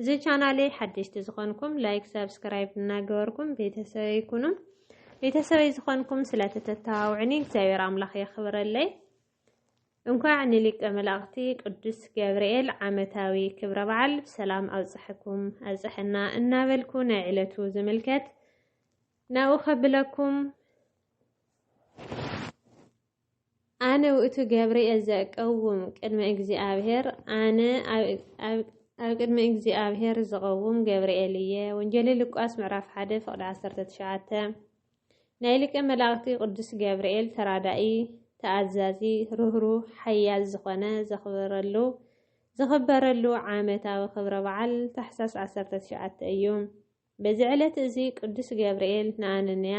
እዚ ቻናለይ ሓደሽቲ ዝኾንኩም ላይክ ሳብስክራይብ እናገበርኩም ቤተሰበይ ኩኑ። ቤተሰበይ ዝኾንኩም ስለተተተባብዑኒ እግዚኣብሔር ኣምላኽ የኽብረለይ። እንኳዕ ንሊቀ መላእኽቲ ቅዱስ ገብርኤል ዓመታዊ ክብረ በዓል ብሰላም ኣብፀሐኩም ኣብፀሐና እናበልኩ ናይ ዕለቱ ዝምልከት ናብኡ ከብለኩም ኣነ ውእቱ ገብርኤል ዘእቀውም ቅድመ እግዚኣብሔር ኣነ ኣብ ቅድሚ እግዚኣብሔር ዝቐውም ገብርኤል እየ። ወንጌል ሉቃስ ምዕራፍ 1 ፍቕዲ 19 ናይ ሊቀ መላእኽቲ ቅዱስ ገብርኤል ተራዳኢ ተኣዛዚ ርህሩ ሓያል ዝኾነ ዘኽብረሉ ዝኽበረሉ ዓመታዊ ክብረ በዓል ታሕሳስ 19 እዩ። በዚ ዕለት እዚ ቅዱስ ገብርኤል ንኣነንያ፣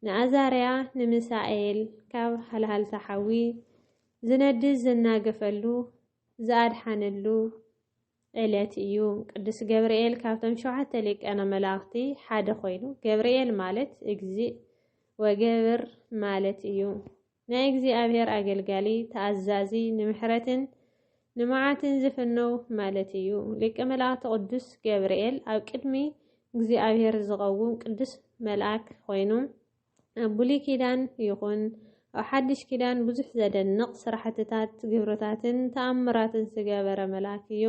ንኣዛርያ፣ ንሚሳኤል ካብ ሃልሃልታ ሓዊ ዝነድድ ዝናገፈሉ ዝኣድሓነሉ ዕለት እዩ። ቅዱስ ገብርኤል ካብቶም ሸውዓተ ሊቃነ መላእኽቲ ሓደ ኮይኑ ገብርኤል ማለት እግዚእ ወገብር ማለት እዩ። ናይ እግዚኣብሔር ኣገልጋሊ፣ ተኣዛዚ፣ ንምሕረትን ንመዓትን ዝፍነው ማለት እዩ። ሊቀ መላእክት ቅዱስ ገብርኤል ኣብ ቅድሚ እግዚኣብሔር ዝቐውም ቅዱስ መልኣክ ኮይኑ ኣብ ብሉይ ኪዳን ይኹን ኣብ ሓድሽ ኪዳን ብዙሕ ዘደንቕ ስራሕትታት ግብርታትን ተኣምራትን ዝገበረ መልኣክ እዩ።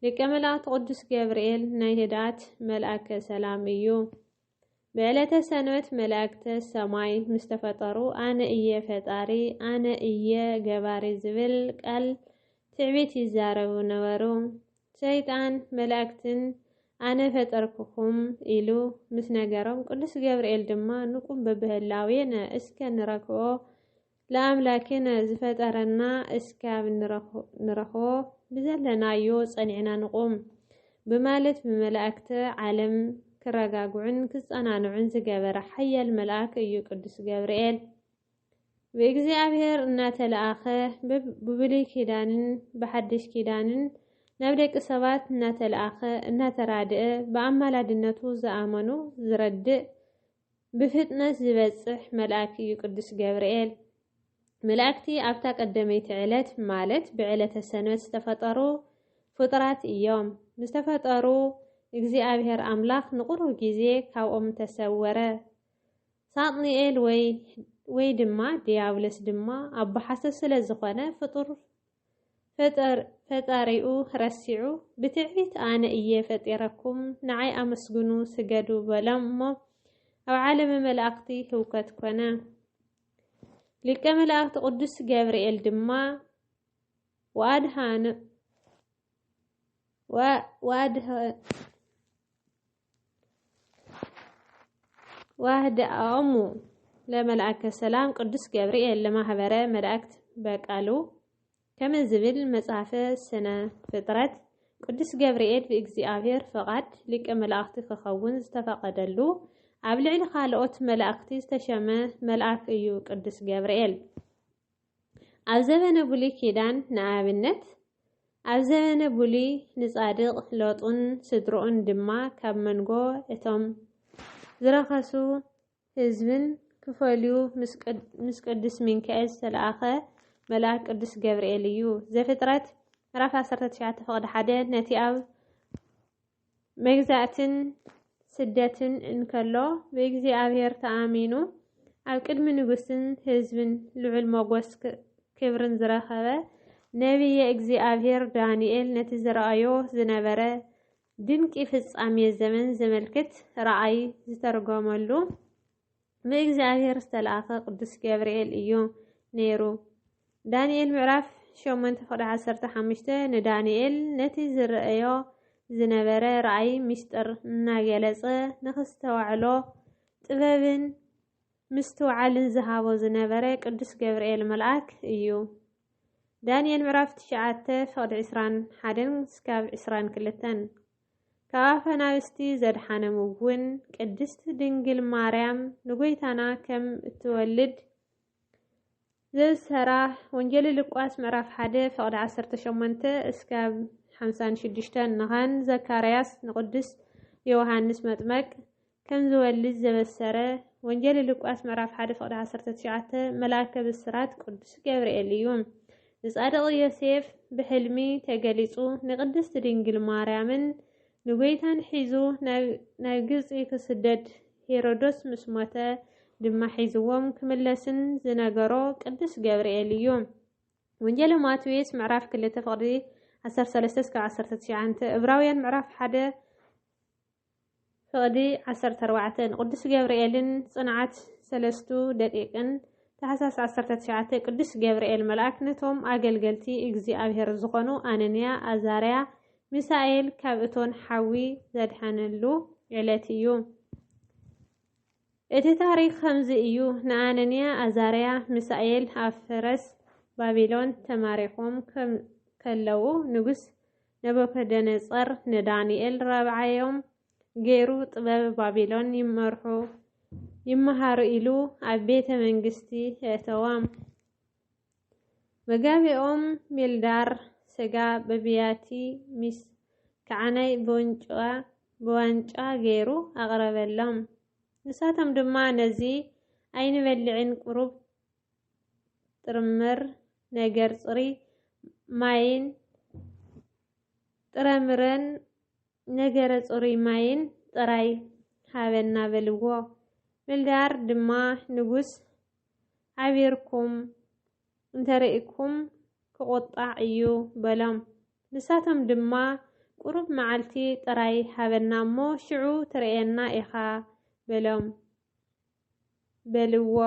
ሊቀ መላእክት ቅዱስ ገብርኤል ናይ ህድኣት መልኣከ ሰላም እዩ። ብዕለተ ሰንበት መላእክተ ሰማይ ምስ ተፈጠሩ ኣነ እየ ፈጣሪ ኣነ እየ ገባሪ ዝብል ቃል ትዕቢት ይዛረቡ ነበሩ። ሰይጣን መላእክትን ኣነ ፈጠርኩኹም ኢሉ ምስ ነገሮም ቅዱስ ገብርኤል ድማ ንቁም በብህላዌነ እስከ ንረክቦ ለኣምላኬ ንዝፈጠረና እስካብ ንረኽቦ ብዘለናዮ ጸኒዕና ንቑም ብማለት ብመላእክተ ዓለም ክረጋግዑን ክጸናንዑን ዝገበረ ሓያል መልኣክ እዩ ቅዱስ ገብርኤል። ብእግዚኣብሔር እናተለኣኸ ብብሉይ ኪዳንን ብሓድሽ ኪዳንን ናብ ደቂ ሰባት እናተለኣኸ እናተራድአ ብኣማላድነቱ ዝኣመኑ ዝረድእ ብፍጥነት ዚበጽሕ መልኣክ እዩ ቅዱስ ገብርኤል። መላእክቲ ኣብታ ቀደመይቲ ዕለት ማለት ብዕለተ ሰንበት ዝተፈጠሩ ፍጡራት እዮም። ምስ ተፈጠሩ እግዚኣብሔር ኣምላኽ ንቁሩብ ጊዜ ካብኦም ተሰወረ። ሳጥንኤል ወይ ወይ ድማ ድያብሎስ ድማ ኣቦ ሓሶት ስለ ዝኾነ ፍጡር ፈጣሪኡ ረሲዑ ብትዕቢት ኣነ እየ ፈጢረኩም ንዓይ ኣመስግኑ ስገዱ በሎም እሞ ኣብ ዓለመ መላእኽቲ ህውከት ኮነ። ሊቀ መላእኽቲ ቅዱስ ገብርኤል ድማ ወኣድሃኑ ዋህደኦሙ ለመልአከ ሰላም ቅዱስ ገብርኤል ለማህበረ መላእክት በቃሉ ከመ ዝብል መጽሐፈ ስነ ፍጥረት ቅዱስ ገብርኤል ብእግዚኣብሔር ፈቓድ ሊቀ መላእኽቲ ክኸውን ዝተፈቐደሉ ኣብ ልዕሊ ካልኦት መላእኽቲ ዝተሸመ መልኣክ እዩ ቅዱስ ገብርኤል። ኣብ ዘበነ ብሉይ ኪዳን ንኣብነት ኣብ ዘበነ ብሉይ ንጻድቕ ሎጥን ስድርኡን ድማ ካብ መንጎ እቶም ዝረኸሱ ህዝብን ክፈልዩ ምስ ቅዱስ ሚንካኤል ዝተለኣኸ መልኣክ ቅዱስ ገብርኤል እዩ። ዘፍጥረት ምዕራፍ 19 ፍቕዲ ሓደ ነቲ ኣብ መግዛእትን ስደትን እንከሎ ብእግዚኣብሔር ተኣሚኑ ኣብ ቅድሚ ንጉስን ህዝብን ልዑል ሞጎስ ክብርን ዝረኸበ ነቢየ እግዚኣብሔር ዳንኤል ነቲ ዝረኣዮ ዝነበረ ድንቂ ፍጻሜ ዘመን ዘመልክት ራእይ ዝተርጎመሉ ብእግዚኣብሔር ዝተላእከ ቅዱስ ገብርኤል እዩ ነይሩ። ዳንኤል ምዕራፍ ሸሞንተ ፍቕዲ ዓሰርተ ሓሙሽተ ንዳንኤል ነቲ ዝረአዮ ዝነበረ ራእይ ምስጢር እናገለጸ ንክስተዋዕሎ ጥበብን ምስትውዓልን ዝሃቦ ዝነበረ ቅዱስ ገብርኤል መልኣክ እዩ። ዳንኤል ምዕራፍ ትሽዓተ ፍቕዲ ዕስራን ሓደን ስካብ ዕስራን ክልተን ካብ ኣናብስቲ ዘድሓነም እውን ቅድስት ድንግል ማርያም ንጎይታና ከም እትወልድ ዘዝሰራ ወንጌል ልቋስ ምዕራፍ 1 ፍቕዲ 18 እስካብ 56 ንኻን ዘካርያስ ንቅዱስ ዮሃንስ መጥመቅ ከም ዝወልድ ዘበሰረ ወንጌል ሉቃስ ምዕራፍ ሓደ ፍቕዲ ዓሰርተ ትሽዓተ መልኣከ ብስራት ቅዱስ ገብርኤል እዩ። ንጻድቕ ዮሴፍ ብሕልሚ ተገሊጹ ንቅድስት ድንግል ማርያምን ንጎይታን ሒዙ ናብ ግብጺ ክስደድ ሄሮዶስ ምስ ሞተ ድማ ሒዝዎም ክምለስን ዝነገሮ ቅዱስ ገብርኤል እዩ። ወንጌል ማቴዎስ ምዕራፍ ክልተ ፍቕዲ ዓሰርተ ሰለስተ እስከ ዓሰርተ ትሽዓተ እብራውያን ምዕራፍ ሓደ ፍቕዲ ዓሰርተ ኣርባዕተ ንቅዱስ ገብርኤልን ጽንዓት ሰለስቱ ደቂቅን ታሕሳስ ዓሰርተ ትሽዓተ ቅዱስ ገብርኤል መልኣክ ነቶም ኣገልገልቲ እግዚኣብሔር ዝኾኑ ኣነንያ ኣዛርያ ሚሳኤል ካብ እቶን ሓዊ ዘድሐነሉ ዕለት እዩ። እቲ ታሪኽ ከምዚ እዩ፣ ንኣነንያ፣ ኣዛርያ፣ ሚሳኤል ኣብ ፈረስ ባቢሎን ተማሪኾም ከለዉ ንጉስ ነቡከደነፆር ንዳንኤል ራብዓዮም ገይሩ ጥበብ ባቢሎን ይመርሑ ይመሃሩ ኢሉ ኣብ ቤተ መንግስቲ የእተዎም። መጋቤኦም ሜልዳር ሰጋ በብያቲ ሚስ ከዓናይ ብወንጭዋ ብዋንጫ ገይሩ ኣቕረበሎም። ንሳቶም ድማ ነዚ ኣይንበልዕን ቁሩብ ጥርምር ነገር ጽሪ ማይን ጥረምረን ነገረ ጽሩይ ማይን ጥራይ ሃበና በልዎ። ሜልዳር ድማ ንጉስ ሓቢርኩም እንተርኢኩም ክቑጣዕ እዩ በሎም። ንሳቶም ድማ ቁሩብ መዓልቲ ጥራይ ሃበና እሞ ሽዑ ትርእየና ኢኻ በሎም በልዎ።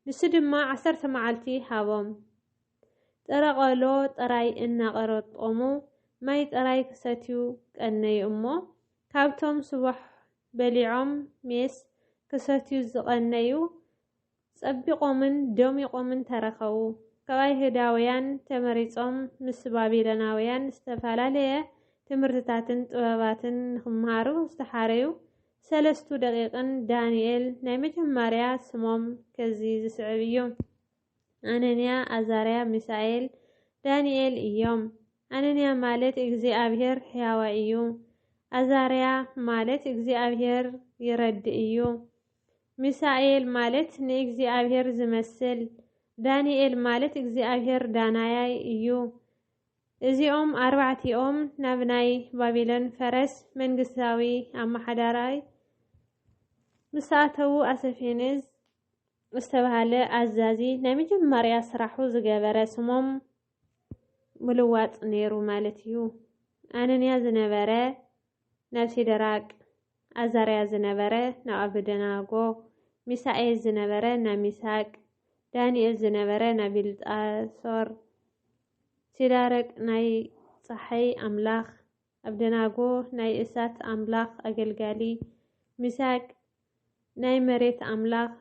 ንሱ ድማ ዓሰርተ መዓልቲ ሃቦም። ጥረቆሎ ጥራይ እናቐረጦሙ ማይ ጥራይ ክሰትዩ ቀነዩ እሞ ካብቶም ስቡሕ በሊዖም ሜስ ክሰትዩ ዝቐነዩ ጸቢቖምን ደሚቖምን ተረኸቡ። ካብ ኣይሁዳውያን ተመሪጾም ምስ ባቢሎናውያን ዝተፈላለየ ትምህርትታትን ጥበባትን ንኽመሃሩ ዝተሓረዩ ሰለስቱ ደቂቕን ዳንኤል ናይ መጀመርያ ስሞም ከዚ ዝስዕብ እዩ። ኣነንያ፣ ኣዛርያ፣ ሚሳኤል፣ ዳንኤል እዮም። ኣነንያ ማለት እግዚኣብሔር ሕያዋ እዩ። ኣዛርያ ማለት እግዚኣብሔር ይረድእ እዩ። ሚሳኤል ማለት ንእግዚኣብሔር ዝመስል፣ ዳንኤል ማለት እግዚኣብሔር ዳናያይ እዩ። እዚኦም ኣርባዕቲኦም ናብ ናይ ባቢሎን ፈረስ መንግስታዊ ኣመሓዳራይ ምሳኣተዉ ኣሰፌንዝ ዝተባሃለ ኣዛዚ ናይ መጀመርያ ስራሑ ዝገበረ ስሞም ምልዋጥ ነይሩ ማለት እዩ። ኣነንያ ዝነበረ ናብ ሲደራቅ፣ ኣዛርያ ዝነበረ ናብ ኣበደናጎ፣ ሚሳኤል ዝነበረ ናብ ሚሳቅ፣ ዳንኤል ዝነበረ ናብ ቢልጣሶር፣ ሲዳረቅ ናይ ጸሓይ ኣምላኽ፣ ኣብደናጎ ናይ እሳት ኣምላኽ ኣገልጋሊ፣ ሚሳቅ ናይ መሬት ኣምላኽ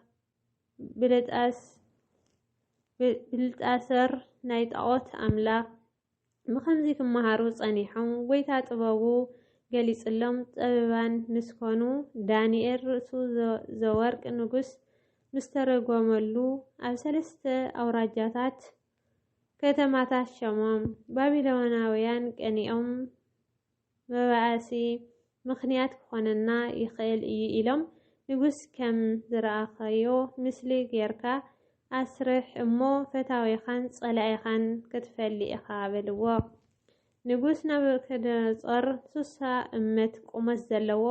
ብልጣሰር ናይ ጣዖት ኣምላኽ ብኸምዚ ክመሃሩ ጸኒሖም ጐይታ ጥበቡ ገሊጽሎም ጠበባን ምስ ኮኑ ዳንኤል ርእሱ ዘወርቅ ንጉስ ምስ ተረጎመሉ ኣብ ሰለስተ ኣውራጃታት ከተማታት ሸሞም ባቢሎናውያን ቀኒኦም መባኣሲ ምኽንያት ክኾነና ይኽእል እዩ ኢሎም ንጉስ ከም ዝረኣኻዮ ምስሊ ጌርካ ኣስርሕ እሞ ፈታዊኻን ጸላኢኻን ክትፈሊ ኢኻ በልዎ። ንጉስ ናቡከደነጾር ሱሳ እመት ቁመት ዘለዎ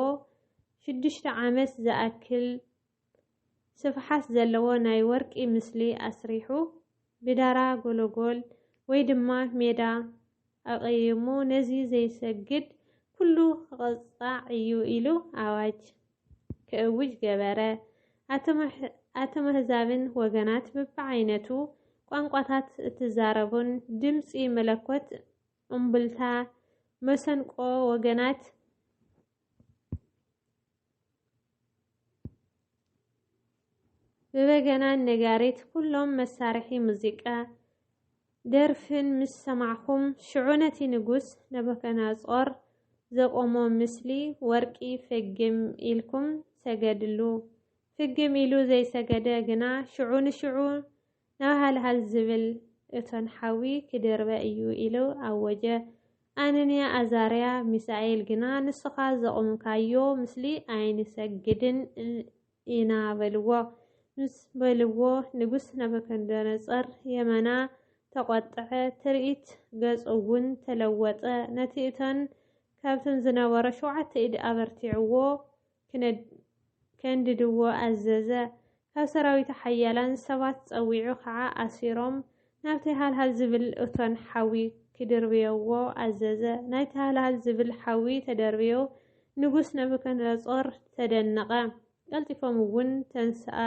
ሽዱሽተ ዓመት ዝኣክል ስፍሓት ዘለዎ ናይ ወርቂ ምስሊ ኣስሪሑ ብዳራ ጎሎጎል ወይ ድማ ሜዳ ኣቐይሙ ነዚ ዘይሰግድ ኩሉ ክቕጻዕ እዩ ኢሉ ኣዋጅ ክእውጅ ገበረ። ኣተመህዛብን ወገናት ብብዓይነቱ ቋንቋታት እትዛረቡን ድምፂ መለኮት እምብልታ መሰንቆ ወገናት ብበገናን ነጋሪት ኩሎም መሳርሒ ሙዚቃ ደርፍን ምስ ሰማዕኹም ሽዑ ነቲ ንጉስ ነበከናጾር ዘቆሞ ምስሊ ወርቂ ፍግም ኢልኩም ሰገድሉ። ፍግም ኢሉ ዘይሰገደ ግና ሽዑ ንሽዑ ናብ ሃልሃል ዝብል እቶን ሓዊ ክድርበ እዩ ኢሉ ኣወጀ። ኣነንያ ኣዛርያ ሚሳኤል ግና ንስኻ ዘቑምካዮ ምስሊ ኣይንሰግድን ኢና በልዎ። ምስ በልዎ ንጉስ ናቡከደነፆር የመና ተቖጥዐ፣ ትርኢት ገፁ'ውን ተለወጠ። ነቲ እቶን ካብቶም ዝነበሮ ሸውዓተ ኢድ ኣበርቲዕዎ። ከንድድዎ ኣዘዘ። ካብ ሰራዊቱ ሓያላን ሰባት ጸዊዑ ኸዓ ኣሲሮም ናብቲ ሃልሃል ዝብል እቶን ሓዊ ክድርብዮዎ ኣዘዘ። ናይቲ ሃልሃል ዝብል ሓዊ ተደርብዮ ንጉስ ናቡከደነጾር ተደነቐ። ቀልጢፎም እውን ተንስኣ።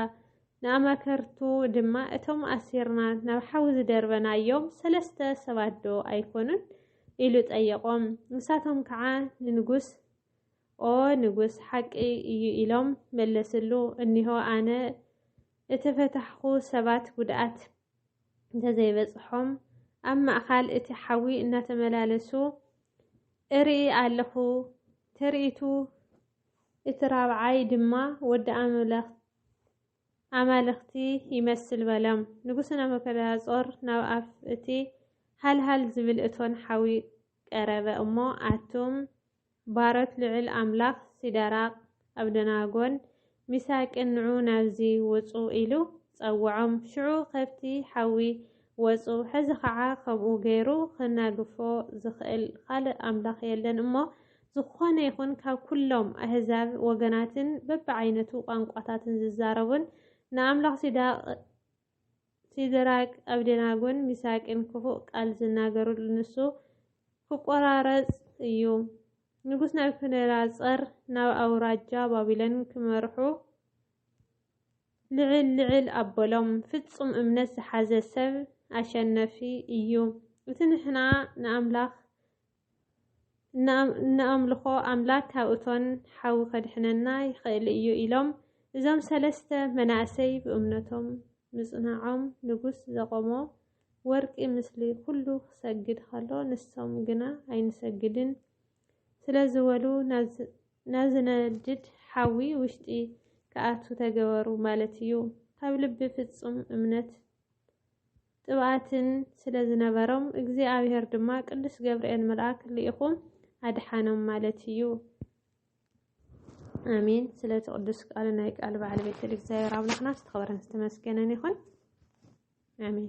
ንኣማከርቱ ድማ እቶም ኣሲርና ናብ ሓዊ ዝደርበናዮም ሰለስተ ሰባት ዶ ኣይኮኑን? ኢሉ ጠየቖም። ንሳቶም ከዓ ንንጉስ ኦ ንጉስ ሓቂ እዩ ኢሎም መለስሉ። እኒሆ ኣነ እተፈታሕኹ ሰባት ጉድኣት እንተዘይበፅሖም ኣብ ማእኻል እቲ ሓዊ እናተመላለሱ እርኢ ኣለኹ። ትርኢቱ እቲ ራብዓይ ድማ ወዲ ኣምላኽ ኣማልኽቲ ይመስል በሎም። ንጉስ ናቡከደነፆር ናብ ኣፍ እቲ ሃልሃል ዝብል እቶን ሓዊ ቀረበ እሞ ኣቱም ባሮት ልዑል ኣምላኽ ሲደራቅ፣ ኣብደናጎን ሚሳቅን ንዑ ናብዚ ውጹ ኢሉ ጸውዖም። ሽዑ ከብቲ ሓዊ ወጹ። ሕዚ ኸዓ ከምኡ ገይሩ ኸናግፎ ዝኽእል ኻልእ ኣምላኽ የለን እሞ፣ ዝኾነ ይኹን ካብ ኩሎም ኣህዛብ ወገናትን በብዓይነቱ ቋንቋታትን ዝዛረቡን ንኣምላኽ ሲዳቅ ሲድራቅ፣ ኣብዴናጎን ሚሳቅን ክፉእ ቃል ዝናገሩሉ ንሱ ክቆራረጽ እዩ። ንጉስ ናቡከደነጻር ናብ ኣውራጃ ባቢሎን ክመርሑ ልዕል ልዕል ኣበሎም። ፍጹም እምነት ዝሓዘ ሰብ ኣሸነፊ እዩ። እቲ ንሕና ንኣምላኽ እንኣምልኾ ኣምላክ ካብ እቶን ሓዊ ከድሕነና ይኽእል እዩ ኢሎም እዞም ሰለስተ መናእሰይ ብእምነቶም ምጽናዖም ንጉስ ዘቆሞ ወርቂ ምስሊ ኩሉ ክሰግድ ከሎ ንሶም ግና ኣይንሰግድን ስለ ዝበሉ ናዝነድድ ሓዊ ውሽጢ ክኣቱ ተገበሩ ማለት እዩ። ካብ ልቢ ፍጹም እምነት ቅብኣትን ስለ ዝነበሮም እግዚኣብሔር ድማ ቅዱስ ገብርኤል መልኣክ ልኢኹ ኣድሓኖም ማለት እዩ። ኣሜን። ስለቲ ቅዱስ ቃል ናይ ቃል በዓል ቤት እግዚኣብሔር ኣምላኽና ዝተኸበረን ዝተመስገነን ይኹን። ኣሜን።